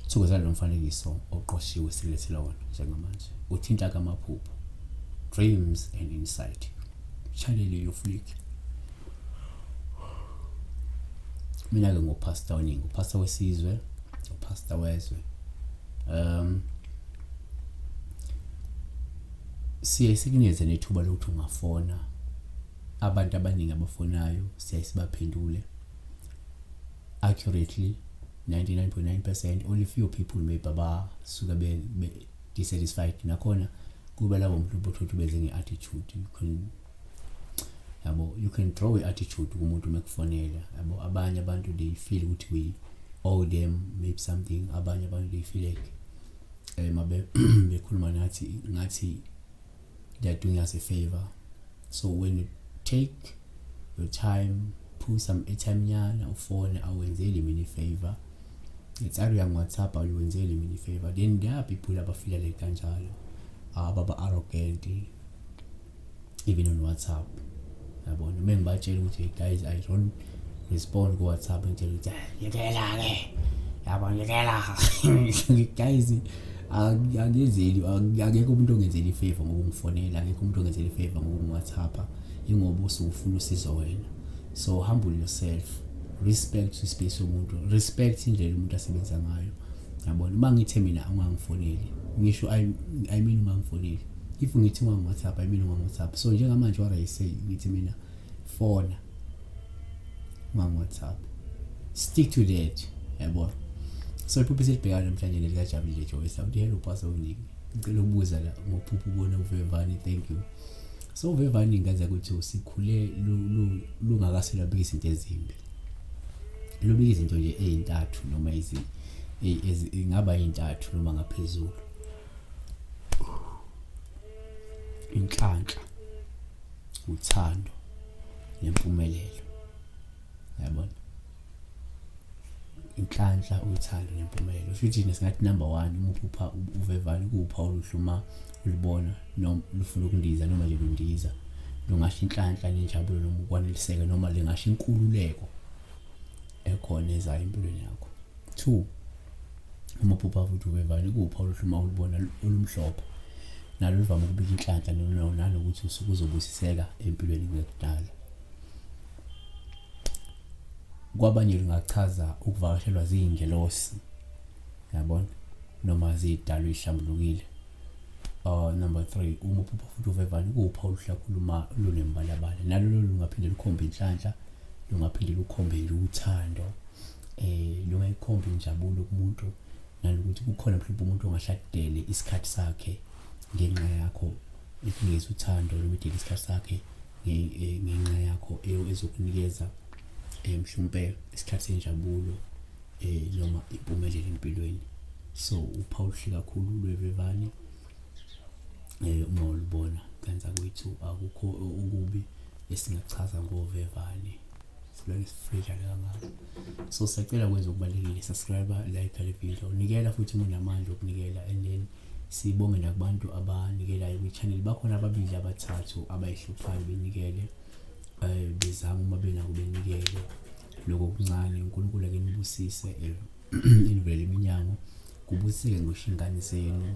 Sukuzela lo mfanekiso oqoshiwe silethela wona njengamanje. Uthinta kamaphupho. Dreams and Insight. Shalele yo flick. Mina ke ngopastor oningi, upastor wesizwe, upastor wezwe. Um siye sikunikeze nethuba lokuthi ungafona abantu abaningi abafonayo siyaye sibaphendule accurately 99.9 percent only few people maybe abasuke be-dissatisfied nakhona kuba labo muntu ubuthuthi beze nge-attitude yabo you can draw i-attitude kumuntu uma kufonela yabo abanye abantu they feel ukuthi we owe them maybe something abanye abantu they feel like um eh, mabe bekhuluma nathi ngathi they are doing us a favor so when you take your time put some airtime nyana ufone awenzeli mina ifavor it's either yang whatsapp awuwenzeli mina ifavor then there are people abafila like kanjalo ababa arrogant even on whatsapp yabona uma ngibatshela ukuthi hey guys i don't respond ku-whatsapp ngitshela ukuthi ah, ngiyekela-ke yabo ngiyekela guys angenzeli akekho umuntu ongenzeli ifavor ngokungifonela akekho umuntu ongenzeli ifavor ngokungiwhatsappa ingoba usuwufuna usizo wena so humble yourself respect ispace yomuntu respect indlela umuntu asebenza ngayo yabona uma ngithe mina ungangifoneli ngisho i mean ungangifoneli if ngithi ungangu-whatsapp i mean ungangu-whatsapp so njengamanje what i say ngithi mina fona ungangu-whatsapp stick to that yabona so iphupho esilibhekayo namhlanje nelikajabulile joyce awuthi hello pastor unike ngicela ukubuza la ngophupho ubona uvevani thank you so uvevani ngaza ukuthi sikhule lungakase lwabika izinto ezimbi lubika izinto nje ey'ntathu noma ingaba yintathu noma ngaphezulu inhlanhla uthando nempumelelo yabona inhlanhla uthando nempumelelo kusho ukuthi singathi number 1 uma uphupha uvevane kupha oluhluma ulibona noma lufuna ukundiza noma nje lundiza lungasho inhlanhla nenjabulo noma ukwaneliseka noma lingasho inkululeko ekhona ezayo empilweni yakho 2 uma uphupha futhi ubevana ikupha oluhluma olubona olumhlophe nalo livame ukubika inhlanhla nanokuthi usuke uzobusiseka empilweni kuyokudala kwabanye lungachaza ukuvakashelwa ziyingelosi yabona noma zidalwa ihlambulukile uh number 3 uma uphupha futhi uvevana kupha oluhlakhuluma lunembalabala nalo lungaphinde lukhombe inhlanhla lungaphinde lukhombe uthando eh noma ikhomba injabulo kumuntu nanokuthi kukhona mhlawumbe umuntu ongashadele isikhathi sakhe ngenxa yakho ikunikeza uthando noma idele isikhathi sakhe eh, ngenxa yakho ezokunikeza eh, mhlawumbe isikhathi senjabulo eh noma impumelelo empilweni so uPaul hle kakhulu lwevevane eh uma ulibona kanti akwethu akukho okubi esingachaza ngovevane Sibeke sifreja le kangaka. So sacela kwenza okubalulekile subscribe like le video. Nikela futhi munamandla okunikela and then sibonge nakubantu abanikelayo kwi-channel bakhona ababili abathathu abayihluphayo benikele um bezama uma benako benikele loko kuncane unkulunkulu ake nibusise eh, inivele iminyango kubusiseke ngisho ingane zenu